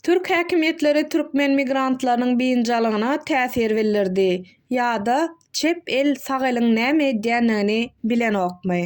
Türk häkimiýetleri türkmen migrantlarynyň biynjalygyna täsir bildirdi ýa-da çep el sag eliň näme edýändigini bilenokmy?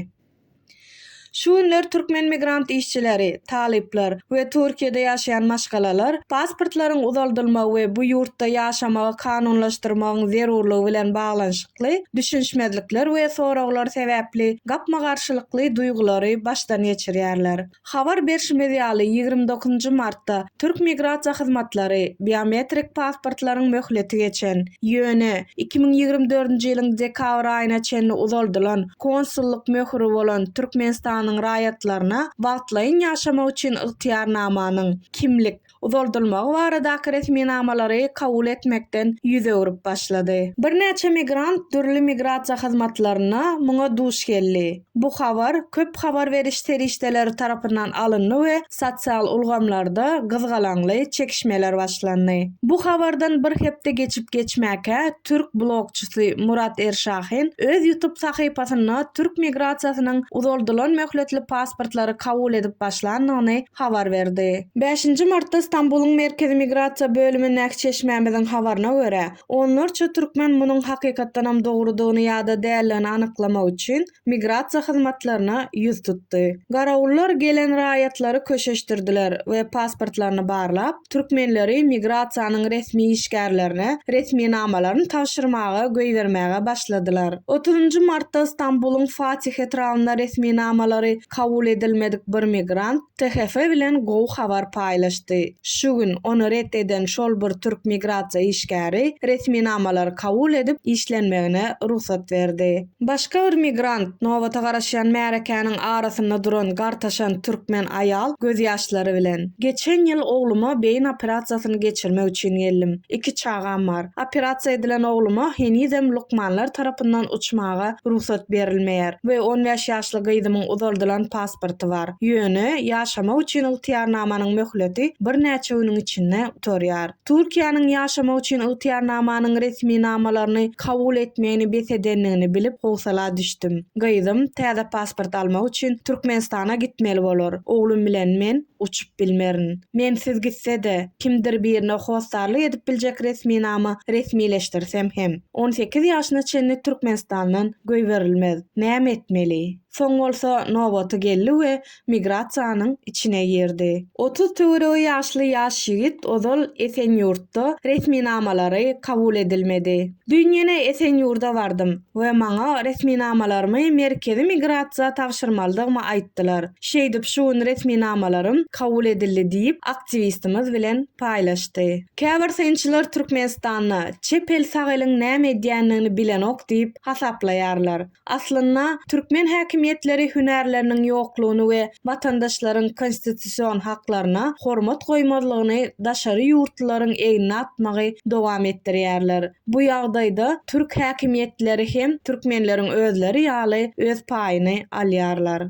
Şu günler türkmen migrant işçileri, talyplar we Türkiýede ýaşaýan maşgalalar pasportlaryň uzaldylmagy we bu ýurtda ýaşamagy kanunlaşdyrmagyň zerurlygy bilen baglanyşykly düşünişmezlikler we soraglar sebäpli gapma-garşylykly duýgulary başdan geçirýärler. Habar berşimiz ýaly, ýigrimi dokuzynjy martda türk migrasiýa hyzmatlary biometrik pasportlaryň möhleti geçen, ýöne iki müň ýigrimi dördünji ýylyň dekabr aýyna çenli uzaldylan konsullyk möhüri bolan Türkmenistanyň raýatlaryna wagtlaýyn ýaşamak üçin ygtyýarnamanyň, kimlik, uzaldylmagy baradaky resminamalary kabul etmekden ýüz öwrüp başlady. Birnäçe migrant dürli migrasiýa hyzmatlarynda muňa duş geldi. Bu habar köp habar beriş serişdeleri tarapyndan alyndy we sosial ulgamlarda gyzgalaňly çekişmeler başlandy. Bu habardan bir hepde geçip-geçmäkä türk blogçysy Murat Erşahin öz ýutub sahypasynda türk migrasiýasynyň uzaldylan möhletli pasportlary kabul edip başlandygyny habar berdi. Bäşinji martda Stambulyň Merkezi migrasiýa bölümindäki çeşmämiziň habaryna görä, onlarça türkmen munuň hakykatdanam dogrudygyny ýa-da däldigini anyklamak üçin migrasiýa hyzmatlaryna ýüz tutdy. Garawullar gelen raýatlary köşeşdirdiler we pasportlaryny barlap, türkmenleri migrasiýanyň resmi işgärlerine resminamalaryny tabşyrmaga goýbermäge başladylar. Otuzynjy martda Stambulyň Fatih etrabynda resminamalary kabul edilmedik bir migrant THF bilen gowy habar paýlaşdy. Şu gün ony ret eden şol bir türk migrasiýa işgäri resminamalary kabul edip işlenmegine rugsat berdi. Başga bir migrant, nobata garaşýan märekäniň arasynda duran gartaşan türkmen aýal gözýaşlary bilen, Geçen ýyl ogluma beýin operasiýasyny geçirmek üçin geldim. Iki çagam bar. Operasiýa edilen ogluma henizem lukmanlar tarapyndan uçmaga rugsat berilmeýär we on bäş ýaşly gyzymyň uzaldylan pasporty bar. Ýöne ýaşamak üçin ygtyýarnamanyň möhleti birnäçe günüň içinde gutarýar. Türkiýäniň ýaşamak üçin ygtyýarnamanyň resminamalaryny kabul etmegini bes edendigini bilip howsala düşdüm. Gyzym täze pasport almak üçin Türkmenistana gitmeli bolar. Oglum bilen men uçup bilmerin. Mensiz gitse-de, kimdir birine hossarlyk edip biljek resminama resmileşdirsem hem, on sekiz ýaşyna çenli Türkmenistandan goýberilmez. Näme etmeli? Soň bolsa nobaty geldi we migrasiýanyň içine girdi. Otuz töweregi ýaşly ýaş ýigit ozal Esenýurtda resminamalary kabul edilmedi. Düýn ýene Esenýurda bardym we maňa resminamalarymy merkezi migrasiýa tabşyrmalydygymy aýtdylar. Şeýdip şu gün resminamalarym kabul edildi diýip, aktiwistimiz bilen paýlaşdy. Käbir synçylar Türkmenistanda çep el-sag eliň näme edýändigini bilenok diýip hasaplaýarlar. Aslynda, türkmen häkimiýetleri hünärleriniň ýoklugyny we watandaşlaryň konstitusion haklaryna hormat goýmazlygyny daşary ýurtlylaryň egnine atmagy dowam etdirýärler. Bu ýagdaýda türk häkimiýetleri hem türkmenleriň özleri ýaly öz paýyny alýarlar.